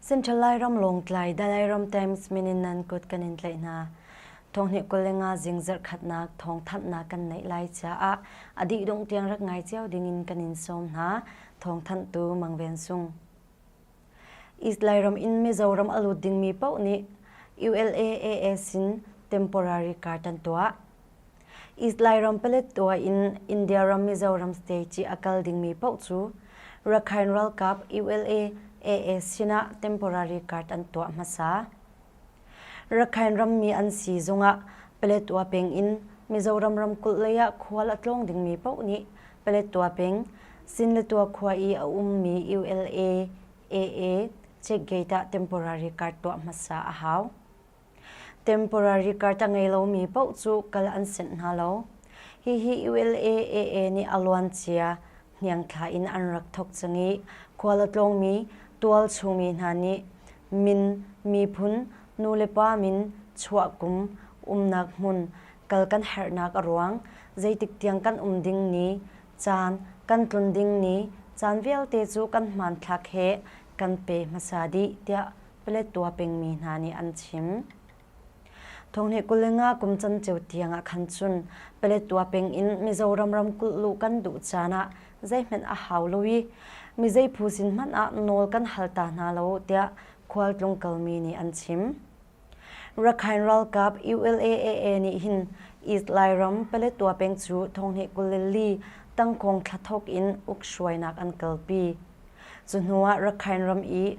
Central Lairam Lawngtlai Dalai Ram Times min in nan kut kan in tlaih hna. Thonghni kul le nga zing zarhkhatnak thong thanhnak kan neih lai caah a dih dongh tiang rak ngai cio ding in kan in sawm hna. Thong thanhtu Mangven Sung. East Lairam in Mizoram a lut dingmi paoh nih ULA AS in temporary card an tuah. Islai ram Paletwa in India ram Mizoram state ci a kal dingmi paoh cu Rakhine ralkap ULA AA sinah temporary card an tuah hmasa. Rakhine rammi an si zongah Paletwa peng in Mizoram ramkulh lei ah khual a tlawng dingmi paoh nih Paletwa peng Sinletwa khua i a ummi ULA AA checkgate ah temporary card tuah hmasa a hau. Temporary carta ngei lomi paoh cu kal an senh hna lo. Hihi ULA-AA nih a luancia hniangthla in an rak thawk cang i khual a tlawngmi tualchungmi hna nih min, miphun, nulepa min, chuah kum, umnak hmun, kal kan herhnak a ruang, zeitik tiang kan um ding ni, caan kan tlun ding ni, caan vialte cu kan hmanthlak he kan pe hmasa dih tiah Paletwa pengmi hna nih an chim. Thonghne kulenga kum canceu tiangah khan cun Paletwa peng in Mizoram ramkulh luh kan duh caan ah zeihmanh a hau lo i mizei phu sin hmanh ah nawl kan hal ta hna lo tiah khualtlung kalmi nih an chim. Rakhine ralkap ULAAA nih hin East Lairam Paletwa peng cu thonghne kuleli tangkong thlathawk in uk hruainak an kalpi. Cu hnuah Rakhine ram i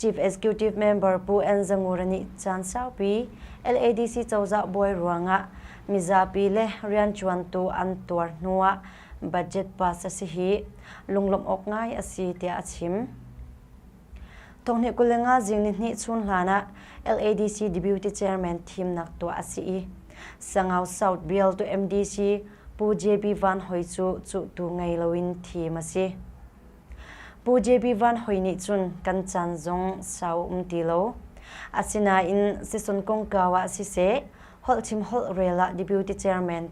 Chief Executive Member Pu Ann Za Ngur nih caan saupi LADC cozah buai ruangah mizapi le rianṭuantu an tuar hnu ah budget pass a si hi lunglawmh awk ngai a si tiah a chim. Thawnghnih kul le nga zing nihnih chun hlan ah LADC Deputy Chairman thimnak tuah a si i Sangau South bial tu MDC Pu JB Van Hoi cu cuhtu ngei loin thim a si. Pu JB Van Hoi nih cun kan caan zong sau um ti lo. Asinain sison kongkau ah siseh, holh chim holh rel ah Deputy Chairman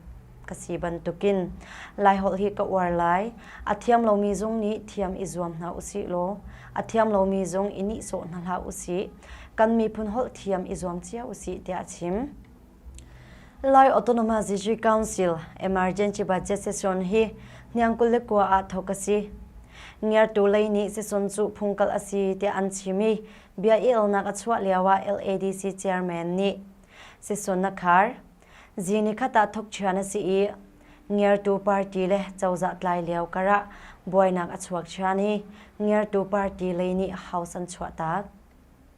ka si bantukin Lai holh hi ka uar lai. A thiam lomi zong nih thiam i zuam hna usih law, a thiam lomi zong i nihsawh hna hlah usih. Kan miphun holh thiam i zuam cio usih tiah a chim. Lai Autonomous District Council Emergency Budget Session hi hniangkul le kua ah thawk a si. Ngertu lei nih session cu phungkal a si tiah an chim i bia i elnak a chuah lio ah LADC chairman nih session a khar. Zini khata thok chian a si i ngertu party le cozah tlai lio kar ah buainak a chuak chian i ngertu party lei nih house an chuah tak.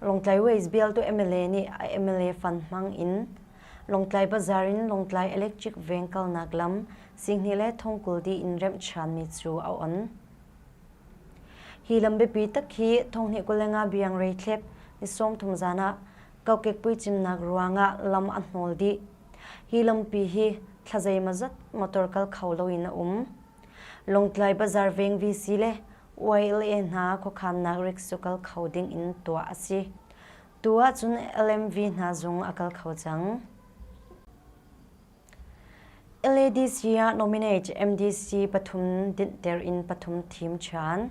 Lawngtlai West bialtu MLA nih a MLA fan hmang in Lawngtlai Bazaar in Lawngtlai Electric Veng kalnak lam Singhni le thongkul di in remh ṭhanmi cu a on. Hi lam biapi tak hi thonghni kulenga biang rei thlep ni sawmthum zan ah kokekpui cimnak ruangah lam a hnawl dih. Hi lampi hi thlazeima zat motor kal kho loin a um. Lawngtlai Bazar Veng VC le YLA hna khuakhannak rigs cu kal kho ding in tuah a si. Tu ahcun LMV hna zung a kal kho cang. LADC ah nominate MDC pathum dinhter in pathum thim ṭhan.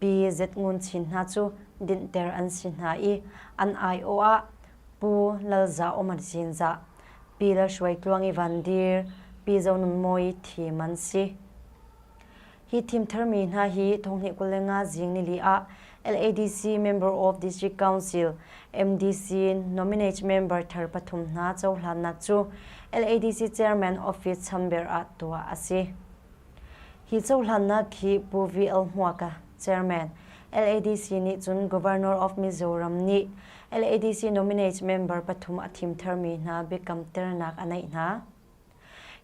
Pi Zet Ngun Chin hna cu dinhter an si hna i an aiawh ah Pu Lal Za Um an sin zah, Pi Lal Hruai Tluang i Van Dir, Pi Zo Nun Mawi thim an si. Hi thim tharmi hna hi Thonghni kul le nga zing nili ah LADC Member of District Council MDC nominate member thar pathum hna cohlannak cu LADC Chairman Office chamber ah tuah a si. Hi cohlannak hi Pu VL Hmuaka, Chairman, LADC nih cun Governor of Mizoram nih LADC nominate member pathum a thimthermi hna biakamternak a neih hna.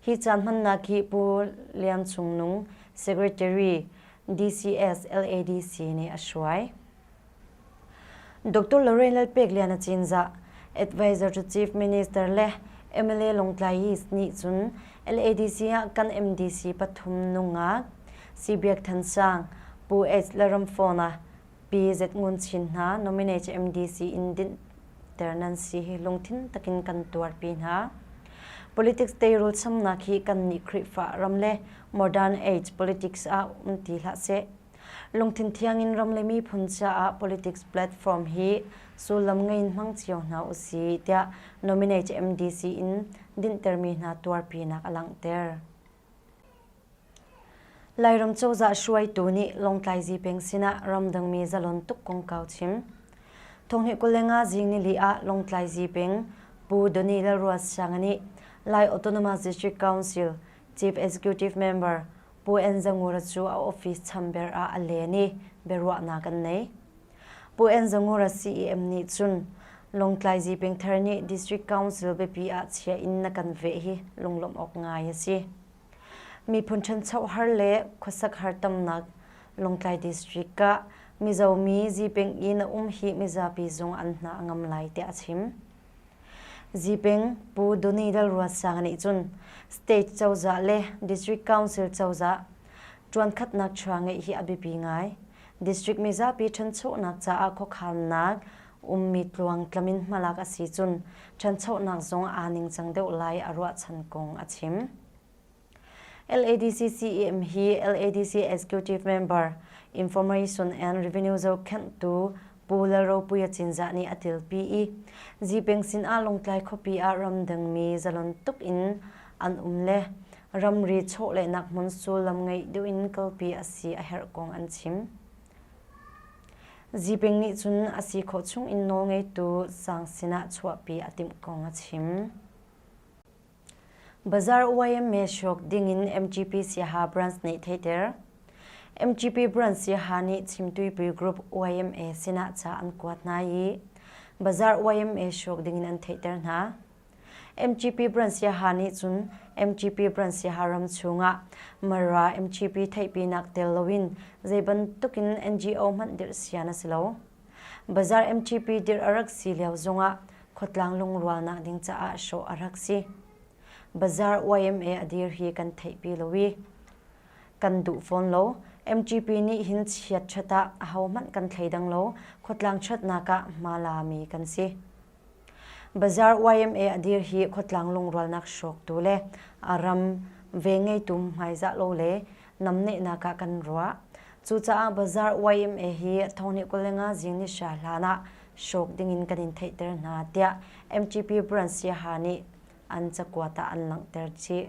Hi ca hmannak hi Pu Lian Cung Nung, Secretary, DCS LADC nih a hruai. Dr. Lorraine Lalpeklian a Cinzah, Advisor to Chief Minister le MLA Lawngtlai East nih cun LADC ah kan MDC pathum nungak Sibiak Than Sang, Pu H. Laramfona, Pi Z Ngun Chin hna nominate MDC in dinhter nan si hi lungthin takin kan tuarpi hna. Politics teirul samnak hi kan nih Khrihfa ram le modern age politics ah um ti hlah seh. Lungthin thiangin ram le miphun caah politics platform hi sullam ngei in hmang cio hna u si tiah nominate MDC in dinhtermi hna tuarpinak a langhter. Lairam cozah hruaitu nih Lawngtlai Zipeng sinah ramdangmi zalon tuk kongkau chim. Thonghni kulenga zing nili ah Lawngtlai Zipeng Pu Donny Lalruat Siang nih Lai Autonomous District Council Chief Executive Member Pu Enzangura cu a office chamber ah a len i biaruahnak an nei. Pu Enzangura CEM nih cun Lawngtlai Zipengthar nih District Council biapi ah chia in na kan veh hi lunglawmh awk ngai a si. Miphun ṭhancho har le khuasak har tamnak Lawngtlai District ah Mizo mi Zipeng i na um hi mizapi zung an hna a ngam lai tiah a chim. Zipeng Pu Donny Lalruatsanga nih cun state cozah le district council cozah ṭuankhatnak chuah ngeih hi a biapi ngai. District mizapi ṭhanchonak caah khuakhannak ummi tluang tlam in hmalak a si cun ṭhanchonak zong aa ningcang deuh lai a ruahchan kong a chim. LADC CEM hi LADC Executive Member Information and Revenue zohkhenhtu Pu Lalropuia Cinzah nih a tilpi i Zipeng sin ah Lawngtlai khuapi ah ramdangmi zalon tuk in an um le ramri chawhlehnak hmun sullam ngeih deuh in kalpi a si a herh kong an chim. Zipeng nih cun a si khawh chung in nawlngeitu sang sinah chuahpi a timh kong a chim. Bazar YMCA hruk dingin MGP siaha branch nih theiter. MGP branch siaha nih chimtuipui group YMCA sinah ca an kuat hna i bazar YMCA hruk dingin an theiter hna. MGP branch siaha nih cun MGP branch siaha ram chungah Mara MGP theihpinak tel loin zeibantukin NGO hmanh dirh sian a si lo. Bazaar MTP dirh a rak si lio zongah khuatlang lungrual nak ding caah hrawh a rak si. Bazaar YMA a dir hi kan theihpi lo i kan duh fawn lo. MTP nih hin chiat ṭhat ah ahohmanh kan thleidang lo. Khuatlang ṭhatnak ah hma la mi kan si. Bazaar yma a dir hi khuatlang lungrualnak hrawktu le a ram ve ngeitu hmaizah lo le namnehnak ah kan ruah. Cucaah Bazaar yma hi thawngnih kul le nga zing ni hra hlan ah hrawk ding in kan in theihter hna tiah MTP brand siaha nih an cakuat ah an langhter chih.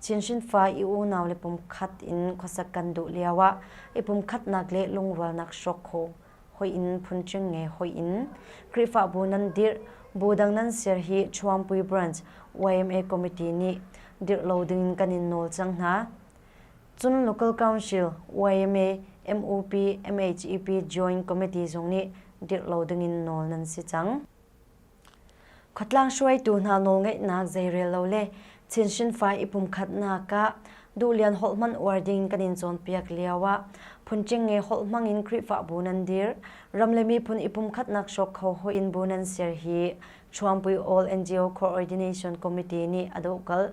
Chinhrin fa i unau le pumkhat in khuasak kan duh lioah i pumkhatnak le lungrualnak hrawk kho hoih in phunṭing nge hoih in Khrihfabu nan dirh bu dang nan ser hi Chuampui Branch yma Committee nih dirh lo dingin kan in nawl cang hna. Cun Local Council yma MUP MHEP Joint Committee zong nih dirh lo dingin nawl nan si cang. Khuatlang hruaitu hna nawlngeihnak zeirel lo le chinhrin fai i pumkhatnak ah duhlian holh hmanh uar ding kan in cawnpiak lio ah phunṭing nge holh hmang in Khrihfabu nan dirh, ram le miphun i pumkhatnak hrawk kho hoi in bu nan ser hi Chuangpui All NGO Co-ordination Committee nih a dohkalh.